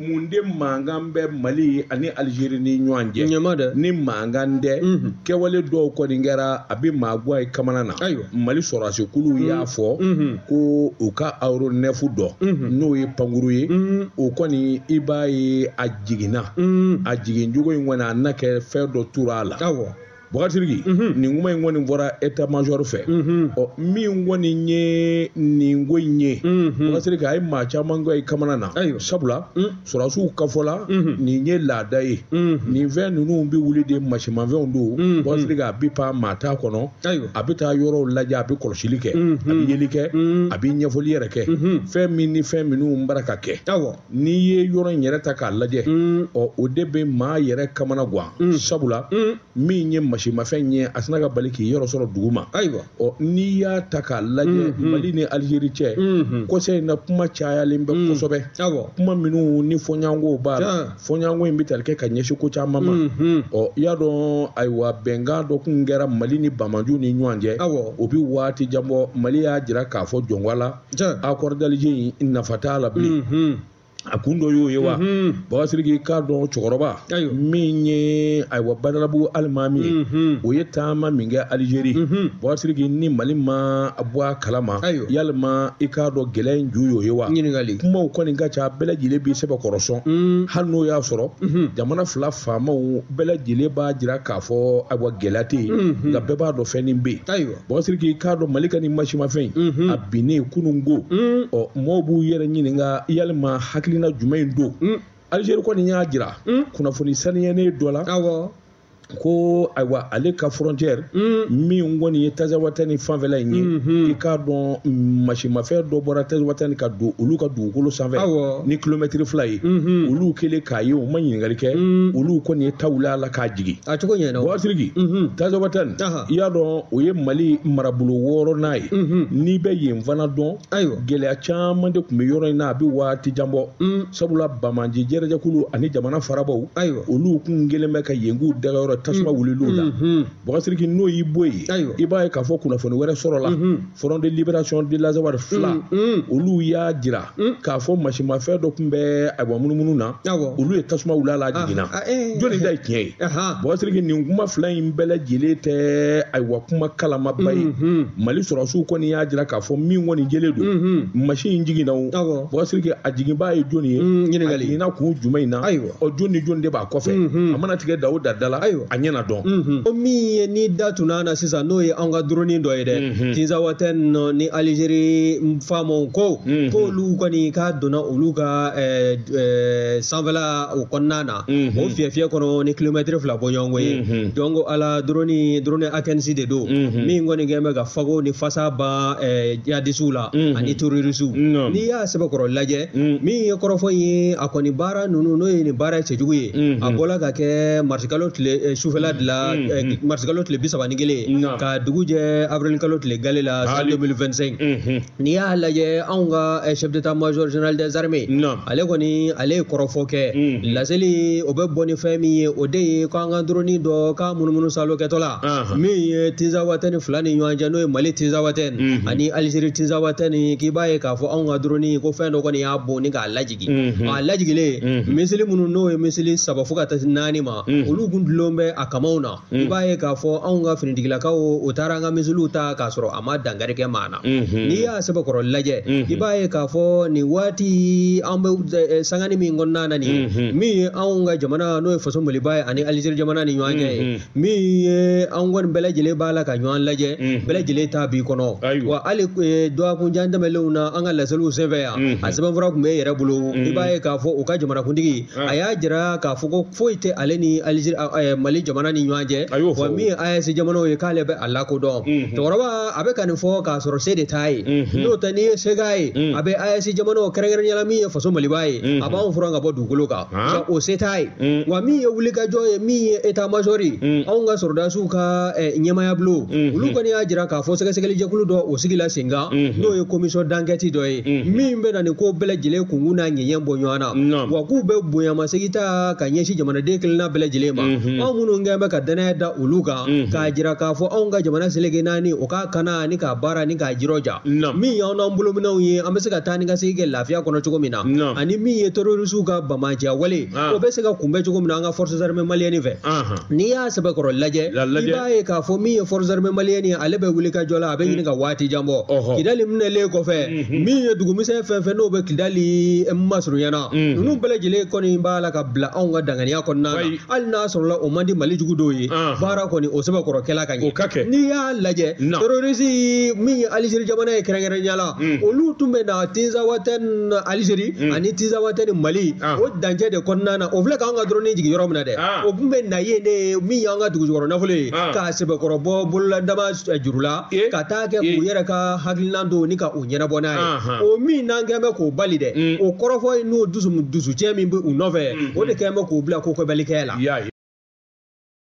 mun de mankan bɛ mali ani alizeri ni ɲɔgɔn cɛ ɲama dɛ ni mankan tɛ kɛwale dɔw kɔni kɛra a bɛ maaguwa ye kamana na ayiwa mali sɔrɔdasi kulu y'a fɔ ko u ka aéronef dɔ n'o ye pankuru ye o kɔni i b'a ye a jiginna a jigin cogo in kɔni a na kɛ fɛn dɔ tora a la ayiwa Bakasiriki nin kuma in kɔni fɔra état-major fɛ ɔ min kɔni ye nin ko in ye bakasiriki a ye maa caman ka i kamana na sabula sɔrɔsiw ka fɔ la nin ye laada ye nin fɛn ninnu bɛ wuli de masimafɛnw don bakasiriki a bɛ pan maa t'a kɔnɔ a bɛ taa yɔrɔw lajɛ a bɛ kɔlɔsili kɛ a bɛ yeli kɛ a bɛ ɲɛfɔli yɛrɛ kɛ fɛn min ni fɛn minnu bara ka kɛ n'i ye yɔrɔ in yɛrɛ ta k'a lajɛ mm. ɔ o de bɛ maa yɛrɛ kamana gan mm. sabula mm. min ye masimafɛn ye a sinna ka bali k'i yɔrɔ sɔrɔ dugu ma ayiwa ɔ n'i y'a ta k'a lajɛ mm-hmm. mali ni alizeri cɛ mm-hmm. kɔsɛ in na kuma cayalen bɛ kosɛbɛ kuma minnu ni fɔɲɔgɔnko b'a la fɔɲɔgɔnko in bɛ tali kɛ ka ɲɛsin ko caman ma mm-hmm. ɔ i y'a dɔn ayiwa bɛnkan dɔ kun kɛra mali ni banbaanciw ni ɲɔgɔn cɛ o bɛ waati jan bɔ mali y'a jira k'a fɔ jɔnwa la accord d'Alger in nafa t'a la bilen a kun dɔ y'o ye wa bakasiriki i k'a dɔn cɛkɔrɔba min ye ayiwa badalabugu alimami ye o ye taama min kɛ alizeri bakasiriki ni mali ma bɔ a kalama yalima i k'a dɔn gɛlɛya in ju y'o ye wa ɲininkali kumaw kɔni ka ca bɛɛ lajɛlen b'i sɛbɛkɔrɔ sɔn hali n'o y'a sɔrɔ jamana fila faamaw bɛɛ lajɛlen b'a jira k'a fɔ ayiwa gɛlɛya tɛ yen nka bɛɛ b'a dɔn fɛn nin bɛ yen bakasiriki i k'a dɔn mali ka nin masimafɛn mhm. a binnen kununko mm. ɔ mɔɔw b'u yɛrɛ ɲininka yalima hakilina jumɛn in don mm. alizeri kɔni y'a jira mm. kunnafoni saniyɛnen dɔ la ko ayiwa ale ka frontière mm. min kɔni ye tazawatani fanfɛla in ye mm-hmm. i k'a dɔn masimafɛn dɔ bɔra tazawatani ka don olu ka dugukolo sanfɛ ni kilomɛtiri fila ye mm-hmm. olu kɛlen k'a ye u ma ɲininkali kɛ mm. olu kɔni ye ta wuli a la k'a jigin a cogo ɲɛna bakasiriki mm-hmm. tazawatani i y'a dɔn o ye mali marabolo wɔɔrɔnan ye n'i bɛ yen fana dɔn ayiwa gɛlɛya caman de tun bɛ yɔrɔ in na a bɛ waati jan bɔ sabula banbaanci jɛrɛjɛkulu ani jamana farabaaw ayiwa olu kun kɛlen bɛ ka yen k'u dagayɔrɔ tasuma wulil'u la bakasiriki n'o y'i bɔ yen ayiwa i b'a ye k'a fɔ kunnafoni wɛrɛ sɔrɔla front de libération de l'Azawad FLA olu y'a jira Hmm? k'a fɔ masimafɛn dɔ tun bɛ ayiwa munumunu na olu ye tasuma wul'a la jiginna ah, ah, eh, eh, jɔnni eh. ta ye tiɲɛ ye bakasiriki nin kuma fila in bɛɛ lajɛlen tɛ ayiwa kuma kalamaba ye mm-hmm. mali sɔrɔsiw kɔni y'a jira k'a fɔ min kɔni jɛlen don mm-hmm. masin in jiginna o bakasiriki a jiginbaa ye jɔnni ye mm, a jiginna kun jumɛn in na ɔ jɔn ni jɔn de b'a kɔfɛ a mana tigɛ da o da la a ɲɛ na dɔn o min ye ni da tunna na sisan n'o ye an ka droni dɔ ye dɛ tinzawatɛni ni alizeri faamaw ko k'olu kɔni k'a donna olu ka sanfɛla o kɔnɔna na o fiyɛfiyɛ kɔnɔ ni kilomɛtiri fila bɔ ɲɔgɔn ye donc ala droni droni akɛnsi de don min kɔni kɛn bɛ ka fago ni fasa ban jihadisiw la ani terorisiw n'i y'a sɛbɛkɔrɔ lajɛ Mm. min ye kɔrɔfɔ ye a kɔni baara ninnu n'o ye nin baara cɛjugu ye mm-hmm. a bɔla ka kɛ marisikalo tile eh, sufɛla mm-hmm. de la eh, mm-hmm. marisikalo tile bi saba ni kelen ka dugu jɛ avirilikalo tile gale la san 2025 n'i y'a lajɛ anw ka eh, chef d'état major général des armées ale kɔni ale ye kɔrɔfɔ kɛ laseli o bɛ bɔ ni fɛn min ye o de ye k'an ka droni dɔ ka munumunu salo kɛtɔla Anhan. min ye tinzawatɛni fila ni ɲɔgɔn cɛ n'o ye mali tinzawatɛni Mhm. ani alizeri tinzawatɛni k'i b'a ye k'a fɔ anw ka droni ko fɛn dɔ kɔni y'a bon ni k'a lajigin Mhm. a lajigilen Mhm. misili minnu n'o ye misili saba fo ka taa se naani ma Mhm. olu kun dulon bɛ a kamaw na i b'a ye k'a fɔ anw ka finitigilakaw u taara an ka misiliw ta k'a sɔrɔ a ma dankari kɛ maa na Mhm. n'i y'a sɛbɛkɔrɔ lajɛ Mhm. i b'a ye k'a fɔ nin waati an bɛ eh, sangani min kɔnɔna na nin ye Mhm. min ye anw ka jamana n'o ye faso maliba ye ani alizeri jamana ni ɲɔgɔn cɛ ye Mhm. min ye an kɔni bɛɛ lajɛlen b'a la ka ɲɔgɔn lajɛ bɛɛ lajɛlen ta b'i kɔnɔ wa hali dɔgɔkunjan tɛmɛnlenw na an ka laseliw senfɛ yan a sɛbɛnfura tun bɛ yɛrɛ bolo i b'a ye k'a fɔ u ka jamanakuntigi a y'a jira k'a fɔ ko foyi tɛ ale ni mali jamana ni ɲɔgɔn cɛ wa min ye AES jamanaw ye k'ale bɛ a lakodɔn cɛkɔrɔba a bɛ ka nin fɔ k'a sɔrɔ se de t'a ye n'o tɛ n'i ye se ye a bɛ AES jamana kɛrɛnkɛrɛnnenya min ye faso maliba ye a b'an furan ka bɔ dugukolo kan Ka o se t'a ye wa min ye wulikajɔ ye min ye état major ye anw ka sɔrɔdasiw ka ɲɛmaya bulon olu kɔni y'a jira k'a fɔ sɛgɛsɛgɛlijɛkulu dɔ o sigila senkan n'o ye commission d'enquête dɔ ye min bɛ na nin ko bɛɛ lajɛlen kunkun n'a ɲɛɲɛ bɔ ɲɔgɔn na wa k'u bɛ bonyamasegin ta ka ɲɛsin jamanaden kelenna bɛɛ lajɛlen ma anw minnu kɛn bɛ ka danaya da olu kan k'a jira k'a fɔ anw ka jamana seleke naani o k'a kana ni k'a baara ni k'a jirɔja min y'anw n'an bolominɛw ye an bɛ se ka taa ni ka segin kɛ lafiya kɔnɔ cogo min na ani min ye terrorisiw ka bamaja wale o bɛ se ka kunbɛn cogo min na an ka forces armées maliennes fɛ n'i y'a sɛbɛkɔrɔ lajɛ i b'a ye k'a fɔ min ye forces armées maliennes ye ale bɛ wulikajɔ la a bɛ ɲini ka waati jan bɔ kidali minɛlen kɔfɛ min ye dugumisɛn fɛn fɛn n'o bɛ kidali masurunya na ninnu bɛɛ lajɛlen kɔni b'a la ka bila anw ka danganiya kɔnɔna na hali n'a sɔrɔla o man di mali jugu dɔw ye baara kɔni o sɛbɛkɔrɔ kɛla ka ɲɛ n'i y'a lajɛ terorisi min ye alizeri jamana ye kɛrɛnkɛrɛnya la olu tun bɛ na tinzawatɛni alizeri ani tinzawatɛni mali o dancɛ de kɔnɔna na o filɛ k'an ka droni jigin yɔrɔ min na dɛ o tun bɛ na yen min y'an ka dugujukɔrɔ nafolo ye k'a sɛbɛkɔrɔ bɔ bolola dama juru la ka taa kɛ k'u yɛrɛ ka hakilinan don ni ka o ɲɛnabɔ n'a ye o min n'an kɛn bɛ k'o bali dɛ mm. o kɔrɔfɔ ye n'o dusu dusucɛ min bɛ u nɔfɛ mm-hmm. o de kɛn bɛ k'u bila ko kɛbalikɛya la